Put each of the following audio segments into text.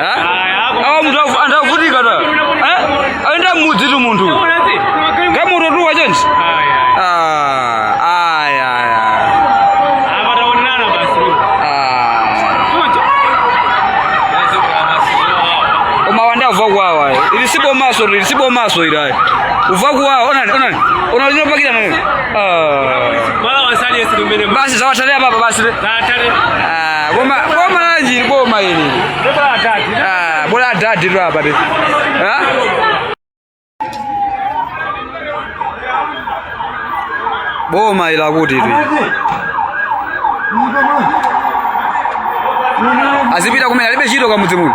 Eh? awa munthu avu- anthu avutika ta Eh? ayenda mmudzi tu munthu gamoto tu wachenji Ah, aya aya Ah. koma wanda uva kuwawa ayi. ili si bomaso ili si bomaso ili ayi uva kuwawa onani onani ona linopakira nani Ah. basi zawatalea baba basi le. Ah, boma boma lanji boma hili. Bora adadi. Ah, bora adadi tu hapa. Ah? Boma ila kuti tu. Azipita kumene alibe chito kwa mudzimu.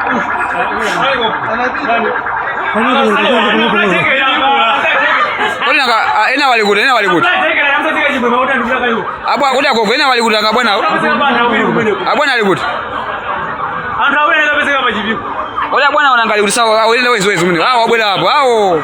ena walikuti ena walikuti apo akuti agogo ena walikuti anga bwana abwana alikuti oda bwana wanangalikuti sawa awo enda wezi wezi mune awo abwera apo awo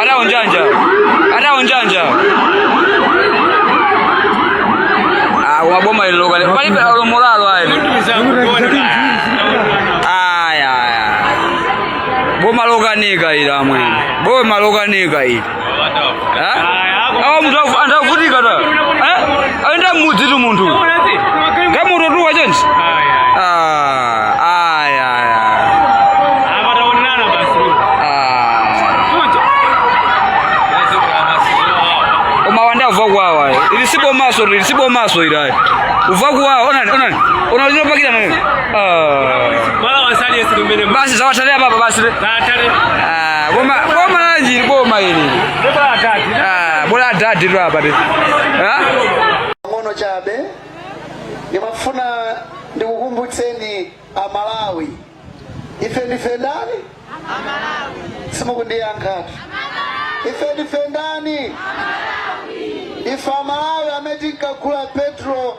Ada unjanja. Ada unjanja. Ah, waboma lilo kale. Pali pa lo moralo ayi. Aya. Boma lokanika ili amwene. Boma lokanika ila. awa munthu avu- anthu avutika ta Eh? ayenda mmudzi tu munthu gamoto tu wachenji koma wanda uva kuwawa eh. ili si bomaso ili si bomaso ili ayi uva kuwawa onani onani ona linopakira nani Ah. basi zawatalia baba basi le. Ah. Ah, Boma boma lanji ili boma ili. Ah, bora adadi tu hapa. tu. Ah? pang'ono chabe ndimafuna ndikukumbutseni amalawi ife ndife ndani simukundiyankhatu ife ndife ndani ife amalawi amene tinkagula petro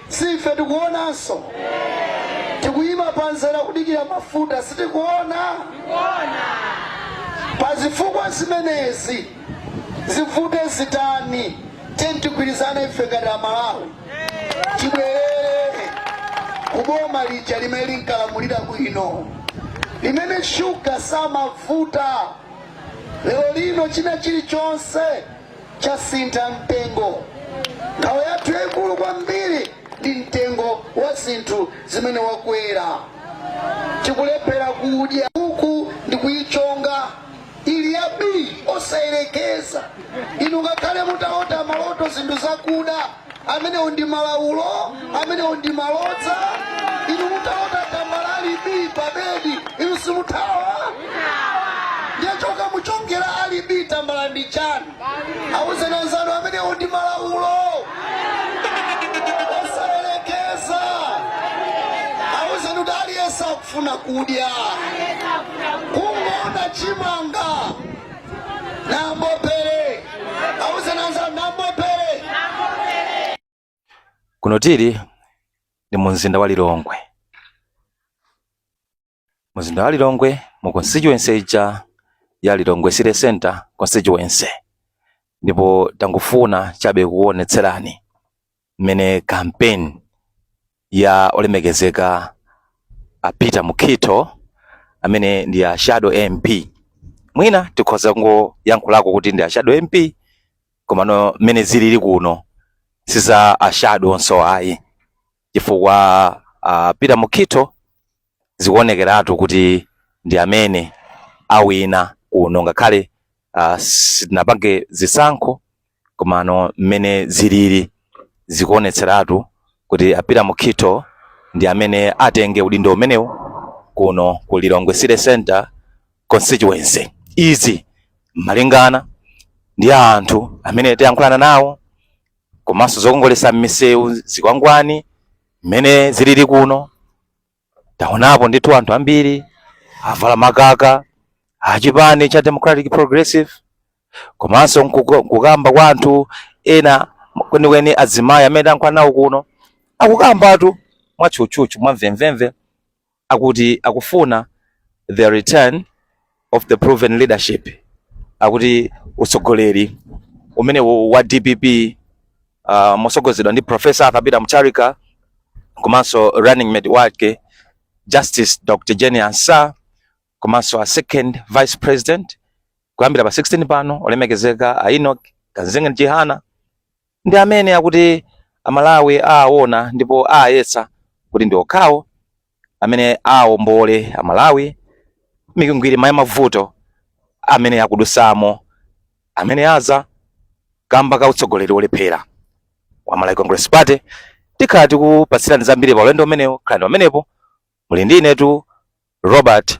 Si ife tikuonanso? Tikuyima pa mzere kudikira mafuta, sitikuona? Pa zifukwa zimenezi, zivute zitani, tiyeni tigwirizane ife ngati a Malawi tibwerere ku boma lija limene linkalamulira bwino, limene shuga samavuta. Lero lino china chilichonse chasintha mtengo. Nkhawa yathu yaikulu kwambiri ndi mtengo wa zinthu zimene wakwera. Tikulephera kudya uku ndi kuyichonga ili ya bii osayerekeza. Inu ngakhale mutalota maloto zinthu zakuda amenewo ndi malaulo amenewo ndi malodza inu mutalota tambala ali bii pabedi inu simuthawa ndiye kukamuchongera ali bii tambala ndi chani awuzeni anzanu amenewo ndi malaulo osayerekeza awuzeni kuti aliyense akufuna kudya kungoona chimanga kuno tili ndi mu mzinda wa Lilongwe. Mu mzinda wa Lilongwe mu constituency ija ya Lilongwe City Center constituency, ndipo tangofuna chabe kukuonetserani mmene campaign ya olemekezeka a Peter Mukhitho amene ndi a shadow MP mwina tikhoza kungoyankhulako kuti ndi a shadow MP komano mmene zilili kuno siza a shadow onso ayi chifukwa a Peter Mukhitho zikuonekeratu kuti ndi amene awina kuno ngakhale uh, sitinapange zisankho komano mmene zilili zikuonetseratu kuti a Peter Mukhitho ndi amene atenge udindo umenewu kuno ku Lilongwe City Center constituency izi malingana ndi anthu amene tayankhulana nawo komanso zokongolesa m'misewu zikwangwani mmene zilili kuno taonapo ndithu anthu ambiri avala makaka achipani cha democratic progressive komanso nkuko- nkukamba kwa anthu ena kwenikweni azimayi amene tayankhula nawo kuno akukambatu mwatchutchutchu mwamvemvemve akuti akufuna the return of the proven leadership akuti utsogoleri umene wa dpp uh, mosogozedwa ndi professor arthur peter mutharika komanso running mate wake justice dr jane ansah komanso a second vice president kuyambira pa 16 pano olemekezeka a enoch kamzingeni chihana ndi amene akuti Amalawi aawona ndipo aayesa kuti ndi okhawo amene aawombole Amalawi m'mikwingwirima ya mavuto amene akudusamo amene aza kamba ka utsogoleri wolephera wa Malawi Congress Party. Tikhala tikupatsirani zambiri pa ulendo umenewu, khalanibe pamenepo muli ndi inetu Robert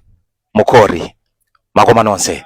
Mukori. Makoma nonse.